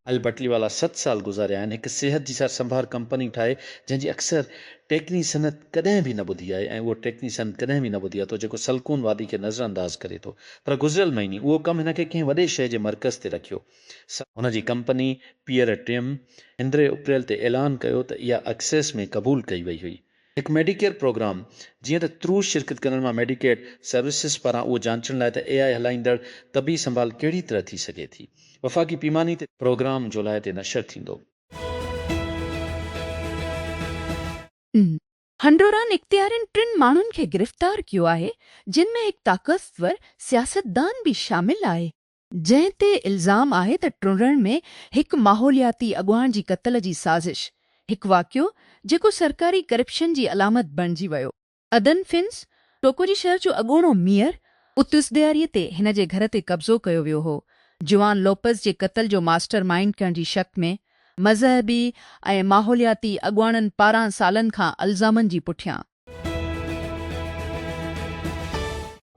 اهل بٽلي والا ست سال گذاريا آهن هڪ صحت جي سار سنڀار ڪمپني ٺاهي جنهن جي اڪثر ٽيڪني صنعت ڪڏهن به نه ٻڌي آهي ۽ اهو ٽيڪني صنعت ڪڏهن به نه ٻڌي آهي ٿو جيڪو سلڪون وادي کي نظر انداز ڪري ٿو پر گذريل مهيني اهو ڪم هن کي ڪنهن وڏي شهر جي مرڪز تي رکيو سا هن جي ڪمپني پيئر ٽيم اندرين اپريل تي اعلان ڪيو ته اها اڪسيس ۾ قبول ڪئي وئي هئي هڪ ميڊيڪيئر پروگرام، جيئن ته ترو شرڪت ڪندڙن مان ميڊيڪيڊ سروسز پاران اهو جانچڻ لاء ته اي آء هلائيندڙ طبي سنڀال ڪهڙي طرح ٿي سگهي ٿي، وفاقي پيماني تي. پروگرام جولاء تي نشر ٿيندو. هنڊوران اختيارين ٽن ماڻهن کي گرفتار ڪيو آهي جن ۾ هڪ طاقتور سياستدان به شامل آهي. جنهن تي الزام آهي ته ٽنڊڻ ۾ هڪ ماحولياتي اڳواڻ جي قتل جي سازش، هڪ واقعو جيڪو سرڪاري ڪرپشن جي علامت بڻجي ويو. ادن فنس، ٽوڪوجي شهر جو اڳوڻو ميئر، اتس ڏياري تي هن جي گهر تي قبضو ڪيو ويو هو، جوان لوپز جي قتل جو ماسٽر مائينڊ ڪرڻ جي شڪ ۾ مذهبي ۽ ماحولياتي اڳواڻن پاران سالن کان الزامن جي پٺيان.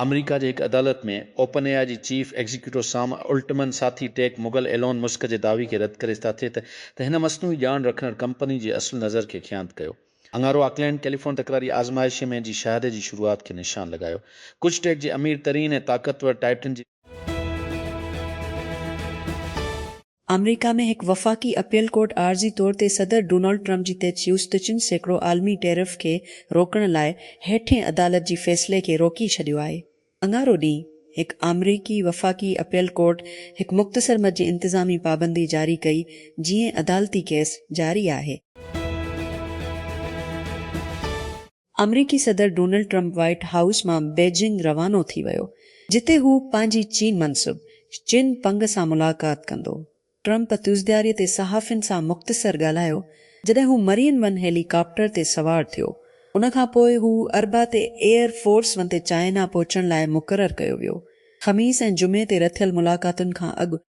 آمريڪا جي هڪ عدالت ۾ اوپن اي آء جي چيف ايگزيڪيوٽو سام الٽمن ساٿي ٽيڪ مغل ايلون مسڪ جي دعوي کي رد ڪري ساٿي ته ته هن مصنوعي ڄاڻ رکندڙ ڪمپني جي اصل نظر کي خيانت ڪيو اڱارو آڪلينڊ ڪيليفون تڪراري آزمائشي ۾ جي شهادي جي شروعات کي نشان لڳايو ڪجهه ٽيڪ جي امير ترين ۽ طاقتور ٽائٽن جي آمريڪا ۾ هڪ وفاقي اپيل ڪورٽ عارضي طور تي صدر ڊونلڊ ٽرمپ جي تجويز ته چن سيڪڙو عالمي ٽيرف کي روڪڻ لاء هيٺين عدالت جي فيصلي کي روڪي ڇڏيو آهي. اڱارو ڏينهن هڪ آمريڪي وفاقي اپيل ڪورٽ هڪ مختصر مد جي انتظامي پابندي جاري ڪئي جيئن عدالتي ڪيس جاري آهي. آمريڪي صدر ڊونلڊ ٽرمپ وائيٽ هائوس مان بيجنگ روانو ٿي ويو جتي هو پنهنجي چين منصب چن پنگ سان ملاقات ڪندو. ٽرمپ تيوزدياري تي صحافين سان مختصر ڳالهايو جڏهن هو مرين ون هيلي ڪاپٽر تي سوار ٿيو. ان کان پوء هو اربع تي ايئر فورس ون تي چائنا پهچڻ لاء مقرر ڪيو ويو. خميس ۽ جمعي تي رٿيل ملاقاتن کان اڳ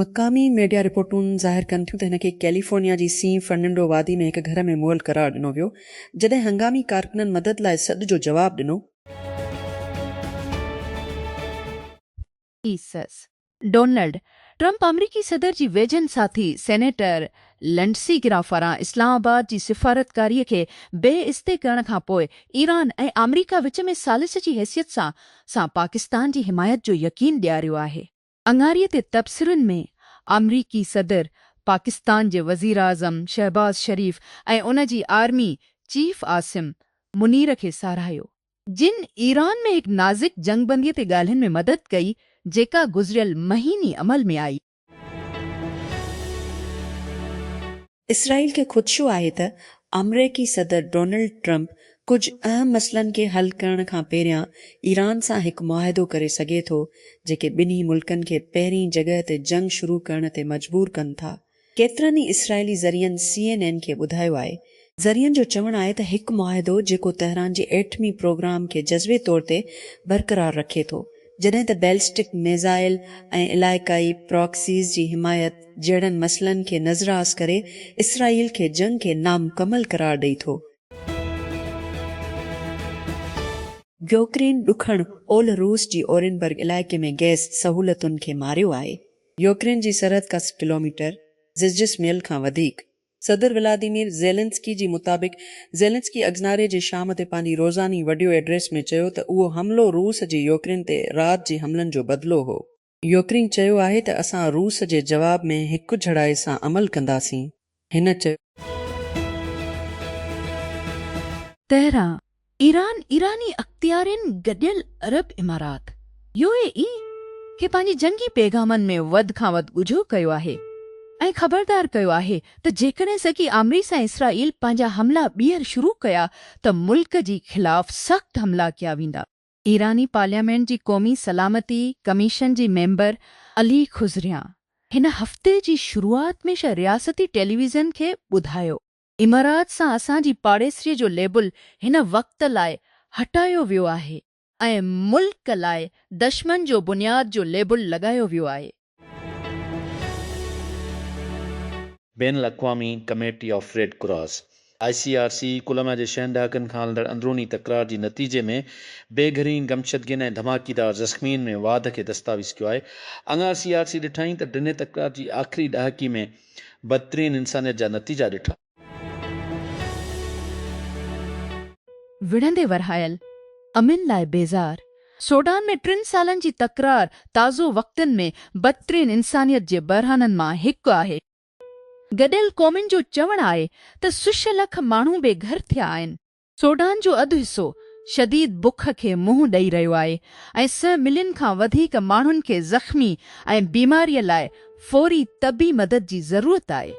مقامي ميڊيا رپورٽون ظاهر ڪن ٿيون ته هن کي ڪيليفورنيا جي سين فرننڊو وادي ۾ هڪ گهر ۾ مئل قرار ڏنو ويو، جڏهن هنگامي ڪارڪنن مدد لاء سڏ جو جواب ڏنو. ايسز، ڊونلڊ ٽرمپ آمريڪي صدر جي ويجهن ساٿي سينيٽر لنڊسي گرام پاران اسلام آباد جي سفارتڪاري کي بي استي ڪرڻ کان پوء ايران ۽ آمريڪا وچ ۾ ثالث جي حيثيت سان سان پاڪستان جي حمايت جو يقين ڏياريو آهي. اڱاري تي تبصرن ۾ آمريڪي صدر، پاڪستان جي وزيراعظم شهباز شريف ۽ ان جي آرمي چيف عاصم منير کي ساراهيو، جن ايران ۾ هڪ نازڪ جنگ بندي تي ڳالهين ۾ مدد ڪئي، جيڪا گذريل مهيني عمل ۾ آئي. اسرائيل کي خدشو آهي ته آمريڪي صدر ڊونلڊ ٽرمپ ڪجهه اهم مسئلن کي حل ڪرڻ کان پهريان ايران سان هڪ معاهدو ڪري سگهي ٿو، جيڪي ٻنهي ملڪن کي پهرين جڳهه تي جنگ شروع ڪرڻ تي مجبور ڪن ٿا. ڪيترن ئي اسرائيلي ذريعن سي اين اين کي ٻڌايو آهي، ذريعن جو چوڻ آهي ته هڪ معاهدو جيڪو تهران جي ايٽمي پروگرام کي جزوي طور تي برقرار رکي ٿو، جڏهن ته بيلسٽڪ ميزائل ۽ علائقائي پراڪسيز جي حمايت جهڙن مسئلن کي نظراس ڪري اسرائيل کي جنگ کي نامڪمل قرار ڏئي ٿو. يوڪرين ڏکڻ اولھ روس جي اورينبرگ علائقي ۾ گئس سهولتن کي ماريو آهي. يوڪرين جي سرحد کان سي ڪلوميٽر، زجسميل کان وڌيڪ، صدر ولاديمير زيلنسڪي جي مطابق زيلنسڪي اگزناري جي شام تي پنهنجي روزاني وڊيو ايڊريس ۾ چيو ته اهو حملو روس جي يوڪرين تي رات جي حملن جو بدلو هو. يوڪرين چيو آهي ته اسان روس جي جواب ۾ هڪجھڙائي سان عمل ڪنداسين، هن چيو. تهران، ايران، ايراني اختيارين گڏيل عرب امارات، يو اي اي، کي پنهنجي جنگي پيغامن ۾ وڌ کان وڌ ڳجهو ڪيو آهي ۽ خبردار ڪيو آهي ته جيڪڏهن سگي آمريس ۽ اسرائيل پنهنجا حملا ٻيهر شروع ڪيا ته ملڪ جي خلاف سخت حملا ڪيا ويندا. ايراني پارليامينٽ جي قومي سلامتي ڪميشن جي ميمبر علي خضريان هن هفتي جي شروعات ۾ رياستي ٽيليويزن کي ٻڌايو امارات سان اسان جي پاڙيسري جو ليبل هن وقت لاء هٽايو ويو آهي ۽ ملڪ لاء دشمن جو بنياد جو ليبل لڳايو ويو آهي. بين الاقوامي committee of Red Cross, I C R C, Colombia جي ڇهن ڏهاڪن کان هلندڙ اندروني تڪرار جي نتيجي ۾ بي گهرين گمشدگين ۽ ڌماڪيدار زخمين ۾ واڌ کي دستاويز ڪيو آهي. اڱار سي آر سي ڏٺائين ته ڊنهي تڪرار جي آخري ڏهاڪي ۾ بدترين انسانيت جا نتيجا ڏٺا. وڙهندي ورهايل، امن لاء بيزار، سوڊان ۾ ٽن سالن جي تڪرار تازو وقتن ۾ بدترين انسانيت جي بحرانن مان هڪ آهي. گڏيل قومن جو چوڻ آهي ته سش لک ماڻهو بي گهر ٿيا آهن. سوڊان جو اڌ حصو شديد بک کي منهن ڏئي رهيو آهي ۽ سئه ملين کان وڌيڪ ماڻهن کي زخمي ۽ بيماريء لاء فوري طبي مدد جي ضرورت آهي.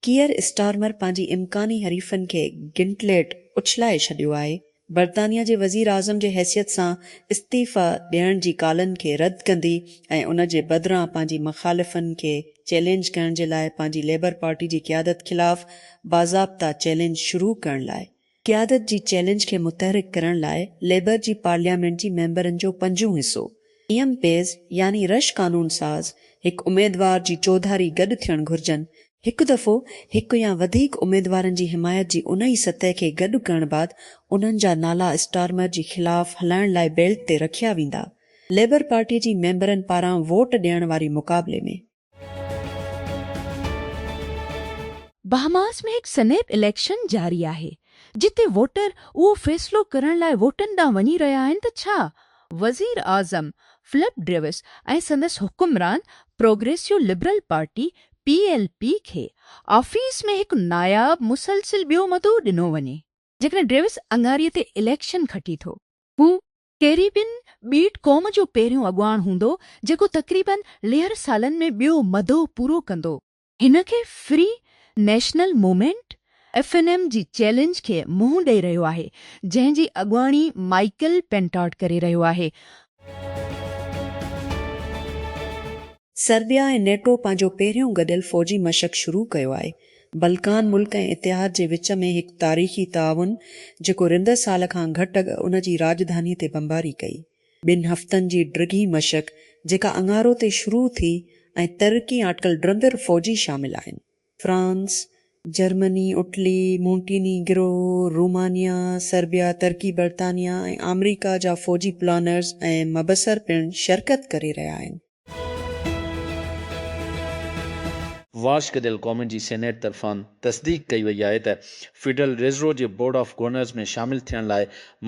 ڪيئر اسٽارمر پنهنجي امڪاني حريفن کي گنٽليٽ اڇلائي ڇڏيو آهي برطانيا جي وزيراعظم جي حيثيت سان استعيفيٰ ڏيڻ جي ڪالن کي رد ڪندي ۽ ان جي بدران پنهنجي مخالفن کي چئلينج ڪرڻ جي لاء پنهنجي ليبر پارٽي جي قيادت خلاف باضابطه چئلينج شروع ڪرڻ لاء قيادت جي چئلينج کي متحرڪ ڪرڻ لاء ليبر جي پارليامينٽ جي ميمبرن جو پنجون حصو ايم پيز يعني رش قانون ساز هڪ اميدوار جي چوڌاري گڏ ٿيڻ گهرجن هڪ دفعو هڪ يا وڌيڪ اميدوارن جي حمايت جي انهي سطح کي گڏ ڪرڻ بعد انهن جا نالا اسٽارمر جي خلاف هلائڻ لاء بيلٽ تي رکيا ويندا. ليبر پارٽي جي ميمبرن پاران ووٽ ڏيڻ واري مقابلي ۾. بهاماس ۾ هڪ سنيپ اليڪشن جاري آهي، جتي ووٽر اهو فيصلو ڪرڻ لاء ووٽن ڏانهن وڃي رهيا آهن ته ڇا وزيراعظم فلپ ڊريوس ۽ سندس حڪمران Progressive Liberal Party, P L P کي آفيس ۾ هڪ ناياب مسلسل ٻيو مدو ڏنو وڃي. جيڪڏهن ڊيوس اڱاري تي اليڪشن کٽي ٿو. هو ڪيريبين ٻيٽ قوم جو پهريون اڳواڻ هوندو جيڪو تقريباً ليهر سالن ۾ ٻيو مدو پورو ڪندو. هن کي Free National Movement F N M جي چئلينج کي منهن ڏئي رهيو آهي جنهن جي اڳواڻي مائيڪل پينٽاٽ ڪري رهيو آهي. سربيا ۽ نيٽو پنهنجو پهريون گڏيل فوجي مشق شروع ڪيو آهي. بلڪان ملڪ ۽ اتحاد جي وچ ۾ هڪ تاريخي تعاون جيڪو رندر سال کان گهٽ اڳ ان جي راڄڌاني تي بمباري ڪئي. ٻن هفتن جي ڊگهي مشق جيڪا اڱارو تي شروع ٿي ۽ ترقي آٽڪل ڊرندر فوجي شامل آهن. France, Germany, Italy, Montenegro, Romania, Serbia, ترڪي، برطانيا ۽ آمريڪا جا فوجي پلانرز ۽ مبصر پڻ شرڪت ڪري رهيا آهن. واشڪ ديل قومن جي سينيٽ طرفان تصديق ڪئي وئي آهي ته فيڊرل ريزرو جي بورڊ آف گورنرز ۾ شامل ٿيڻ لاء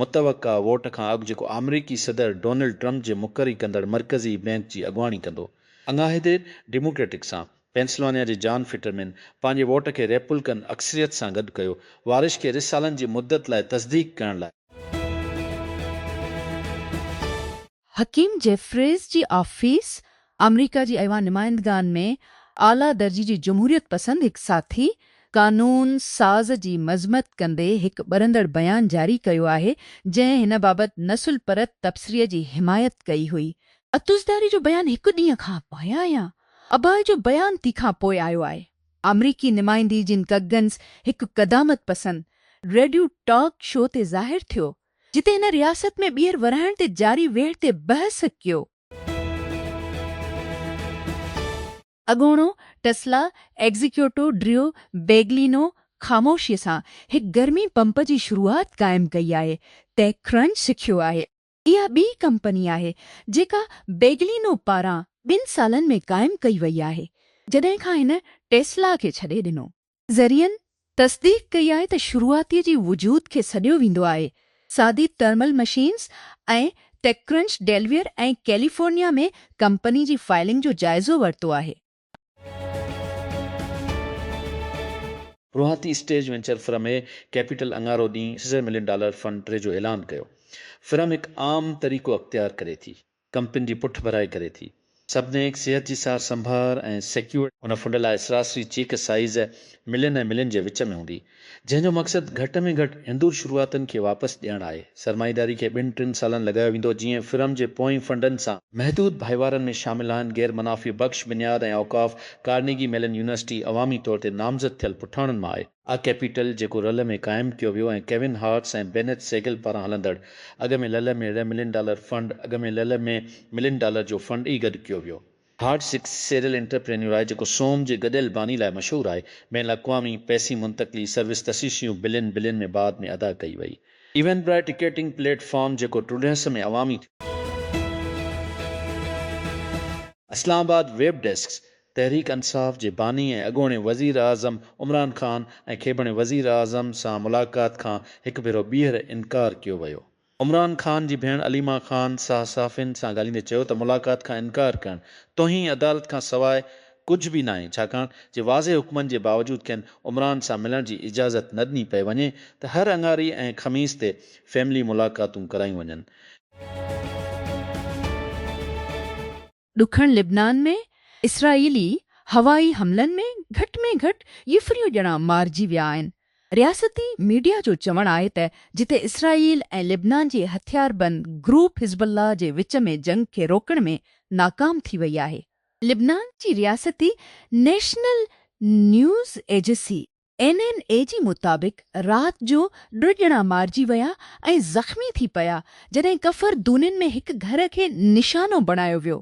متوقع ووٽ کان اڳ جيڪو آمريڪي صدر ڊونلڊ ٽرمپ جي مقري ڪندڙ مرڪزي بئنڪ جي اڳواڻي ڪندو. اڱاهي دير ڊيموڪريٽڪ سان پينسلوانيا جي جان فٽرمين پنهنجي ووٽ کي ريپولڪن اڪثريت سان گڏ ڪيو، وارش کي رس سالن جي مدت لاء تصديق ڪرڻ لاء. حڪيم جيفريز جي آفيس آمريڪا جي ايوان نمائندگان ۾ اعليٰ درجي جي جمهوريت پسند هڪ ساٿي قانون ساز جي مذمت ڪندي هڪ ٻرندڙ بيان جاري ڪيو آهي جنهن هن بابت نسل پرت تبصري جي حمايت ڪئي هئي. عطوزرداري جو بيان هڪ ڏينهن کان پايان يا اباهه جو بيان تي کان پوء آيو آهي. آمريڪي نمائندي جن ڪگنز هڪ قدامت پسند ريڊيو ٽاڪ شو تي ظاهر ٿيو، جتي هن رياست ۾ ٻيهر ورهائڻ تي جاري ويڙهه تي بحث ڪيو. اڳوڻو ٽسلا ايگزيڪيوٽو ڊريو بيگلينو خاموشيء سان هڪ گرمي پمپ جي شروعات قائم ڪئي آهي، ٽيڪ ڪرنچ سکيو آهي. اها ٻي ڪمپني آهي جيڪا بيگلينو پاران ٻن سالن ۾ قائم ڪئي وئي آهي جڏهن کان هن ٽيسلا کي ڇڏي ڏنو. ذريعن تصديق ڪئي آهي ته شروعاتي جي وجود کي سڏيو ويندو آهي، سادي thermal machines ۽ TechCrunch Delaware ۽ California ۾ company جي فائلنگ جو جائزو ورتو آهي. روهاتي stage venture firm A capital اڱارو ڏينهن سيزر ملين ڊالر فنڊ ٽري جو اعلان ڪيو، فرم هڪ عام طريقو اختيار ڪري ٿي، ڪمپنين جي پٺڀرائي ڪري ٿي، سڀنيڪ صحت جي سار سنڀار ۽ سيڪيورٽي. هن فنڊ لاء سراسري چيڪ سائيز ملين ۽ ملين جي وچ ۾ هوندي، جنهن جو مقصد گهٽ ۾ گهٽ هندور شروعاتن کي واپس ڏيڻ آهي. سرمائيداري کي ٻن ٽن سالن لڳايو ويندو جيئن فرم جي پوئين فنڊن سان. محدود ڀائيوارن ۾ شامل آهن غير منافعي بخش بنياد ۽ اوقاف، ڪارنيگي ميلن يونيورسٽي عوامي طور تي نامزد ٿيل پٺاڻن مان آهي. آء ڪيپيٽل جيڪو رل ۾ قائم ڪيو ويو ۽ ڪيون هارٽس ۽ بينيٿ سيگل پاران هلندڙ اڳ ۾ لل ۾ ري ملين ڊالر فنڊ اڳ ۾ لل ۾ ملين ڊالر جو فنڊ ئي گڏ ڪيو ويو. هارڊ سڪ سيريل انٽرپرينيور آهي جيڪو سوم جي گڏيل باني لاء مشهور آهي. بين الاقوامي پئسي منتقلي سروس تشيشيون بلين بلين ۾ بعد ۾ ادا ڪئي وئي. ايونبرائي ٽڪيٽنگ پليٽ فارم جيڪو ٽرڊهس ۾ عوامي ٿيو. اسلام آباد، ويب ڊيسڪ، تحريڪ انصاف جي باني ۽ اڳوڻي وزيراعظم عمران خان ۽ کيبڻي وزيراعظم سان ملاقات کان هڪ ڀيرو ٻيهر انڪار ڪيو ويو عمران خان جي ڀيڻ عليما خان ساهه صحافين سان ڳالهيندي چيو ته ملاقات کان انڪار ڪرڻ توهين عدالت کان سواء ڪجهه به ناهي ڇاڪاڻ جي واضح حڪمن جي باوجود کين عمران سان ملڻ جي اجازت نه ڏني پئي وڃي ته هر اڱاري ۽ خميس تي فيملي ملاقاتون ڪرايون وڃن. ڏکڻ لبنان ۾ اسرائيلي هوائي حملن ۾ گهٽ ۾ گهٽ ڄڦريون ڄڻا مارجي ويا آهن. رياستي ميڊيا جو چوڻ آهي ته جتي اسرائيل ۽ لبنان جي هٿياربند گروپ حزب الله جي وچ ۾ جنگ کي روڪڻ ۾ ناڪام ٿي وئي آهي. لبنان جي رياستي نيشنل نيوز ايجسي اين اين اي جي مطابق رات جو ٽه ڄڻا مارجي ويا ۽ زخمي ٿي پيا جڏهن ڪفر دونين ۾ هڪ گهر کي نشانو بڻايو ويو.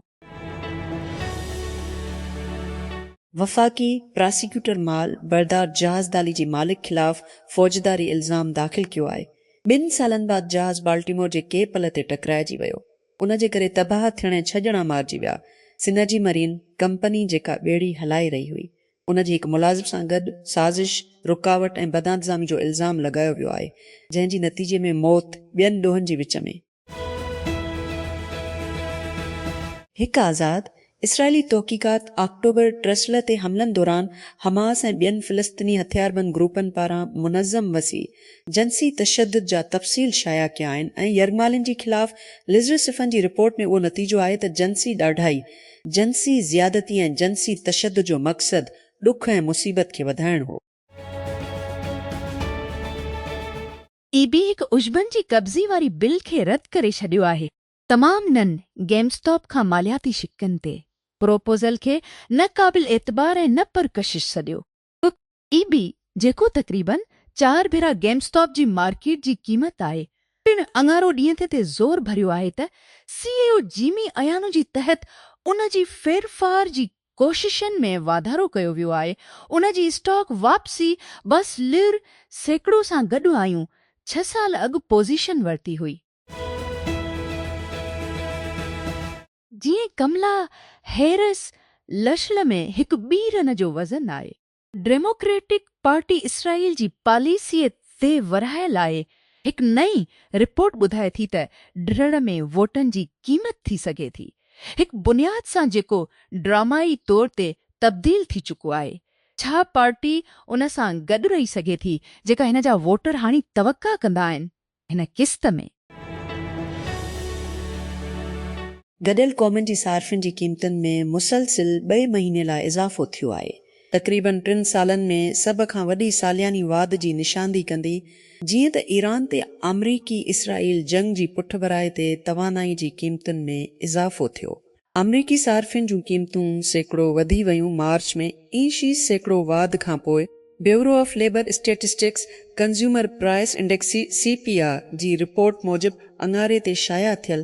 وفاقي پراسيڪيوٽر مال بردار جهاز دالي جي مالڪ خلاف فوجداري الزام داخل ڪيو آهي، ٻن سالن بعد جهاز بالٽيمور جي ڪي پل تي ٽڪرائجي ويو، ان جي ڪري تباهه ٿيڻ ۽ ڇهه ڄڻا مارجي ويا، سنرجي مرين ڪمپني جيڪا ٻيڙي هلائي رهي هئي، ان جي هڪ ملازم سان گڏ سازش، رڪاوٽ ۽ بدانتظامي جو الزام لڳايو ويو آهي، جنهن جي نتيجي ۾ موت ٻين ڏوهن جي وچ ۾. هڪ آزاد اسرائيلي تحقيقات آڪٽوبر ٽرسلر تي حملن دوران حماس ۽ ٻين فلسطيني هٿياربند گروپن پاران منظم وسيع جنسي تشدد جا تفصيل شايع ڪيا آهن ۽ يرغمالين جي خلاف لزرسفن جي رپورٽ ۾ اهو نتيجو آهي ته جنسي ڏاڍائي جنسي زيادتي ۽ جنسي تشدد جو مقصد ڏک ۽ مصيبت کي وڌائڻ هو. اي بي هڪ عشبن جي قبضي واري بل کي رد ڪري ڇڏيو آهي. تمام نن گيم اسٽاپ کان مالياتي شقن تي پروپوزل کي نه قابل اعتبار ۽ نه پرڪشش سڏيو. ڪک اي بي جيڪو تقريباً چار ڀيرا گيم اسٽاپ جي مارڪيٽ جي قيمت آهي پڻ اڱارو ڏينهن تي تي زور ڀريو آهي ته سي اي او جيمي ايانو جي تحت ان جي ڦيرڦار جي ڪوششن ۾ واڌارو ڪيو ويو آهي ان جي اسٽاڪ واپسي بس لر سيڪڙو سان گڏ آيون ڇهه سال اڳ پوزيشن ورتي هئي. جيئن ڪملا هيرس لشل ۾ هڪ ٻي رن جو وزن آهي. ڊيموڪريٽڪ پارٽي اسرائيل جي پاليسيء تي ورهاء لاء هڪ نئين رپورٽ ٻڌائي ٿي ته ڊھڙ ۾ ووٽن جي قيمت ٿي سگهي ٿي هڪ بنياد سان جيڪو ڊرامائي طور تي تبديل ٿي چڪو آهي ڇا پارٽي ان سان گڏ رهي سگهي ٿي جيڪا هن جا ووٽر هاڻي توقع ڪندا آهن هن قسط ۾. گڏيل قومن جي صارفين جي قيمتن ۾ مسلسل ٻئي مهيني لاء اضافو ٿيو آهي. تقريبن ٽن سالن ۾ سڀ کان وڏي سالياني واڌ جي نشاندهي ڪندي جيئن ته ايران تي آمريڪي اسرائيل جنگ جي پٺڀرائي تي توانائي جي قيمتن ۾ اضافو ٿيو آمريڪي صارفين جون قيمتون سيڪڙو وڌي ويون مارچ ۾ اي شي سيڪڙو واڌ کانپوء bureau of labour statistics consumer price index, C P I, جي رپورٽ موجب اڱاري تي شايع ٿيل،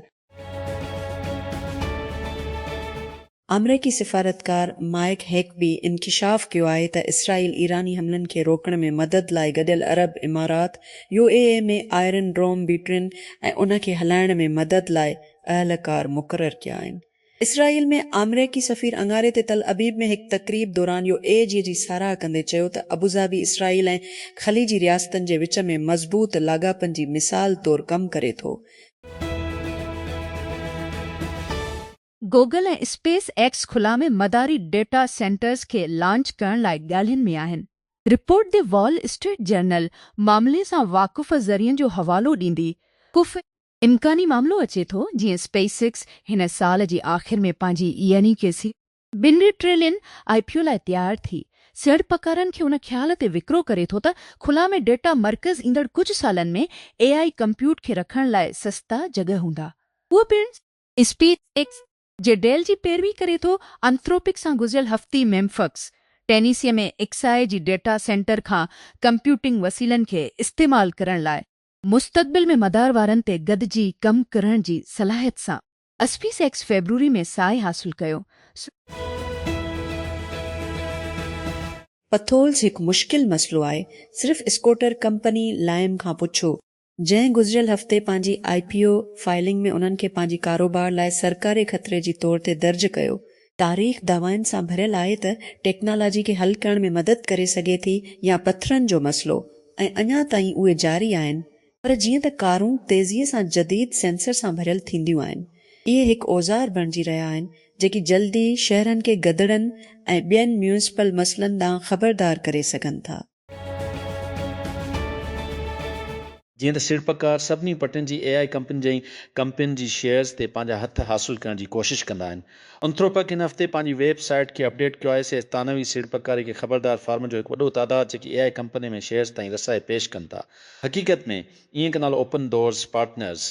آمريڪي سفارتڪار مائيڪ هيڪبي انڪشاف ڪيو آهي ته اسرائيل ايراني حملن کي روڪڻ ۾ مدد لاء گڏيل عرب امارات، U A E, ۾ iron dome بيٽرين ۽ ان کي هلائڻ ۾ مدد لاء اهلڪار مقرر ڪيا آهن. اسرائيل ۾ آمريڪي سفير اڱاري تي تل ابيب ۾ هڪ تقريب دوران يو اي جي جي ساراهه ڪندي چيو ته ابوظهبي اسرائيل ۽ خليجي رياستن جي وچ ۾ مضبوط لاڳاپن جي مثال طور ڪم ڪري ٿو. گوگل ۽ اسپيس ايڪس خلا ۾ مداري ڊيٽا سينٽرز کي لانچ ڪرڻ لاء ڳالهين ۾ آهن. Report the Wall Street Journal معاملي سان واقف ذريعن جو حوالو ڏيندي ڪف امڪاني معاملو اچي ٿو جيئن اسپيس ايڪس هن سال جي آخر ۾ پنهنجي يعني ڪي سي. ٻن ٽريلين آء پي او لاء تيار ٿي سيڙپڪارن کي ان خيال تي وڪرو ڪري ٿو ته خلا ۾ ڊيٽا مرڪز ايندڙ ڪجهه سالن ۾ اي آء ڪمپيوٽ کي رکڻ لاء سستا جڳهه هوندا اهو پڻ اسپيس ايڪس جي ڊيل جي پيروي ڪري ٿو انٿروپڪ سان گذريل هفتي ميمفڪس ٽينيسي ۾ ايڪس آء جي ڊيٽا سينٽر کان ڪمپيوٽنگ وسيلن کي استعمال ڪرڻ لاء مستقبل ۾ مدار وارن تي گڏجي ڪم ڪرڻ جي صلاحيت سان اسپيس ايڪس فيبروري ۾ ساهي حاصل ڪيو سو پٿولز هڪ مشڪل مسئلو آهي صرف اسڪوٽر ڪمپني لائم کان پڇو جنهن گذريل هفتي پنهنجي آء پي او فائلنگ ۾ انهن کي پنهنجي ڪاروبار لاء سرڪاري خطري جي طور تي درج ڪيو تاريخ دعوائن سان ڀريل آهي ته ٽيڪنالاجي کي حل ڪرڻ ۾ مدد ڪري سگهي ٿي يا پٿرن جو مسئلو ۽ اڃا تائين اهي جاري آهن پر جيئن ته ڪارون تيزيء سان جديد سينسر سان ڀريل ٿينديون آهن اهي هڪ اوزار بڻجي رهيا آهن جيڪي جلدي شهرن کي گدڙن ۽ ٻين ميونسپل مسئلن ڏانهن خبردار ڪري سگهن ٿا. جيئن ته سيڙپڪار سڀني پٽين جي اي آء ڪمپنين جي ڪمپنين جي شيئرز تي پنهنجا هٿ حاصل ڪرڻ جي ڪوشش ڪندا آهن. انٿروپڪ هن هفتي پنهنجي ويب سائيٽ کي اپڊيٽ ڪيو آهي، سي ثانوي سيڙپڪاري کي خبردار فارمن جو هڪ وڏو تعداد جيڪي اي آء ڪمپنين ۾ شيئرز تائين رسائي پيش ڪن ٿا. حقيقت ۾ اينڪ نالو اوپن ڊورز پارٽنرز